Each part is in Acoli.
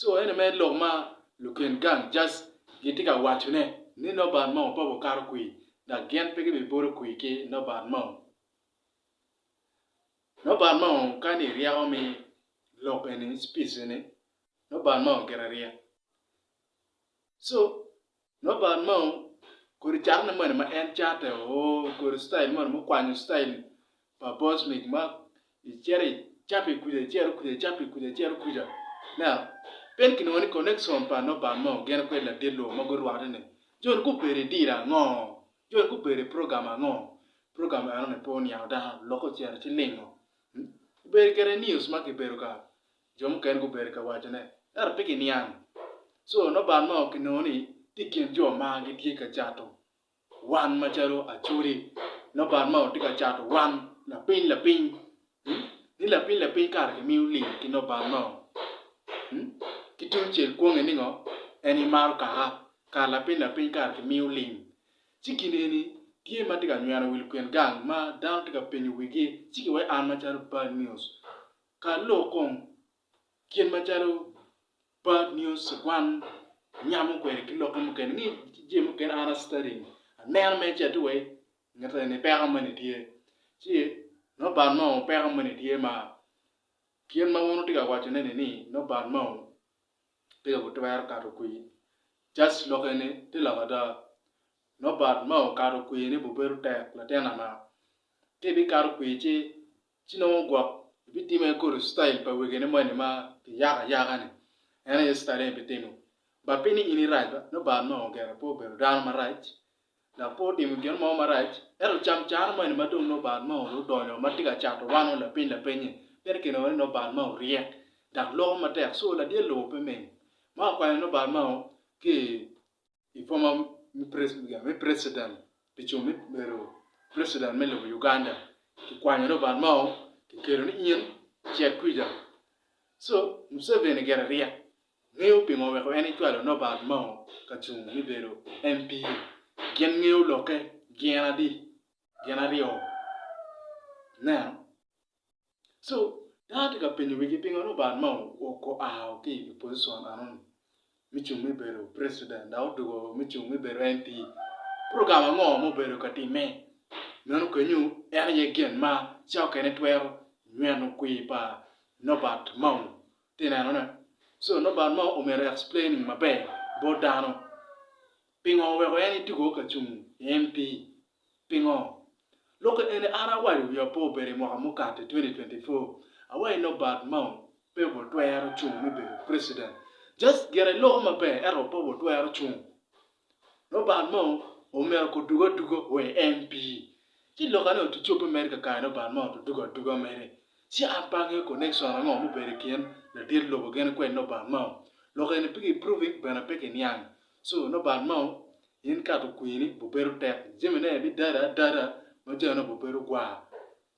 So ene mere lok ma lugen gang just gitye ka wacone ni nobody mo pe wukato kwir dok gin pe gibibolo kwir ki nobody mo. Nobody mo ka ni iryeko me lok eni speech eni nobody mo gire ryek. So Loban mo kodi caro ne moni ma en cate oo kodi style moni mukwanyo style pa bosmik ma icito icato i kuca icito kuca icato i kuca icito kuca now pien kinongo ni connection pa Loban mo gin kwed ladit lobo ma gurwate ni joni gubedo i deal ango joni gubedo i program ango program eno ni pe oniang dano lokke ocito ci lingo gubedo kede news ma kibedo ka Jo mukene gubedo ka wacone, ento pe giniang. Co noban ma kinongo ni tye i kin jo ma gitye ka cato wan macalo acoli, noban ma tye ka cato wan lapiny lapiny. Ni lapiny lapiny kara kimiyo lim ki noban mo. Ki tungcel kwonge ni ngo? En imaro kaka kara lapiny lapiny kara kimiyo lim. Ci gin eni tye ma tye ka nyweno wi lukin gang ma dano tye ka penyo wigi ci ki weko an macalo Bad News Ka lok kong kit macalo bad news kwan nyamo kwede ki lokke mukene ngi ki jami mukene an a studying aneno me ce atir wai nget eni peko moni tye ci nongo bad mo peko moni tye ma kit ma wun wutye ka waco ne ni nongo bad mo pe ka gitwero kato kwi just lok eni tye lok ada nongo bad mo kato kwi ne bu bedo tek latin ama ka ibikato kwi ci Ci nongo gwok ebitimme kodo i citail pa wegene moni ma kiyako ayaka-ni, en aye citail eni ebitimo. Ba pi ni in irac ba, nongo Baal nongo ogero pe obedo dano marac, dok pe otimo gin mo marac. Ento camcane moni ma dong nongo Baal nongo dong odonyo ma tye ka cato wano lapiny lapenye, meno kinongo ni nongo Baal nongo oryek dok loko matek, cu ladyel lobo pe mim. Ma okwanyo nongo Baal nongo ki i. i boma me precident pi cung me bedo precident me lobo Uganda kikwanyo Robert Mao kikelo ni in cit kwica so Museveni gire ryek ngeyo pingo weko en ecwalo Nobert Mao ka cung me bedo MP gin ngeyo lokke gin adi gin aryo nen So, dano tye ka penyo wigi pingo Lubanga ma oao ki i position enoni me cung me bedo president dok odwogo me cung me bedo MP? Program ango ma obedo ka timme? Meno kenyo en aye gin ma cokene twero nyweno kwir pa Nobert Mao. Ite nenone? So, Nobert Mao omyero e explaining maber bot dano. Pingo oweko en itugo ka cung i MP? Pingo? Lokke eni an awaco wi apo obedo i mwaka mukato i 2024 awaco Norbert Mao pe wa twero cung me bedo president just gire loko maber ento pe wa twero cung Norbert Mao omyero ko dugo aduga o i MP ci lokke ni otu cobbe mere kakare Norbert Mao otu dugo aduga mere ci an pe angeyo connection ango mubedo i kin ladit lobo gene kwed Norbert Mao lokke eni pe ki proving bene pe ki niang Coo nongo bal mao in kato kwir ni bubedo tek jami ne bi dada adada ma jami nongo bubedo gwar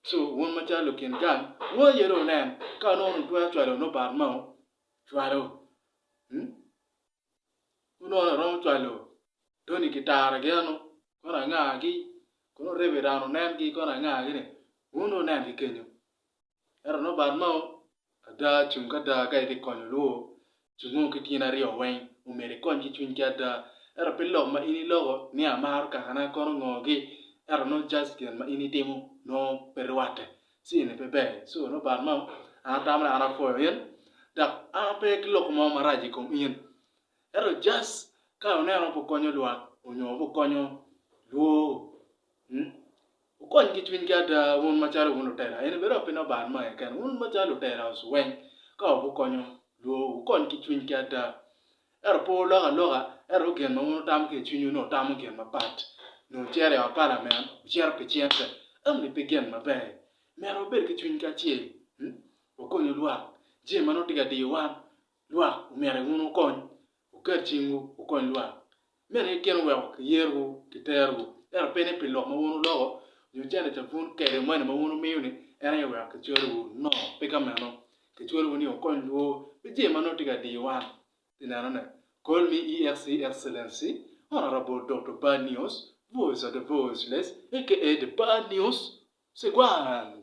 coo wun macalo lukin gang wun aye dong wunen ka nongo wun wutwero cwalo nongo bal mao cwalo mm wun nongo nongo iromo cwalo Tony ki Tara gi eno kono angagi kono reverend onengi kono angagi ni wun dong wunen ki kenyo. Ento nongo bal mao ada cung ki ada ka itye ka konyo olwo cungo ki tyeni aryo weng omyero ikony ki cwiny ki ada ento pe lok ma in iloko ni amaro kaka na kono ngo gi ento nongo just gin ma in itimo nongo pe rwatte ci eni pe ber so nongo bal mao an atamo ni an apwoyo in dok an pe ki loko mo marac i kom in ento just ka aneno pu konyo lwak onyo pu konyo lwo Wukony ki cwinygi ada, wun macalo wun lutela, eni bene opinnau ba an ma aye kene, wun macalo lutela oc weng, ka wukonyo lwowu, wukony ki cwinygi ada. Ento pe wulok aloka, ento gin ma wun wutamo ki i cwinywu nongo wutamo gin mapat, nyo wucito i ot pa lanen, wucito pi cente, eno-ni pe gin maber. Myero wabed ki cwiny kacel, wakonyu lwak, jami ma nongo tye ka diyo wan, Lwak omyero wun wukony, wuket cingwu wukony lwak. Meno itino weko kiyerowu ki terowu, ento pe ni pi lok ma wun wuloko nyo canica pun kede mani ma wun wumiyo-ni en aye weko kicwelowu. No, pe ka meno. Kicwelowu ni wukony lwor pi jami ma nongo tye ka diyo wan. Pi nenone, Call me EXC Excellency, Honourable Doctor Bad News, Voice of the Voiceless, aka The Bad News, Sigwan!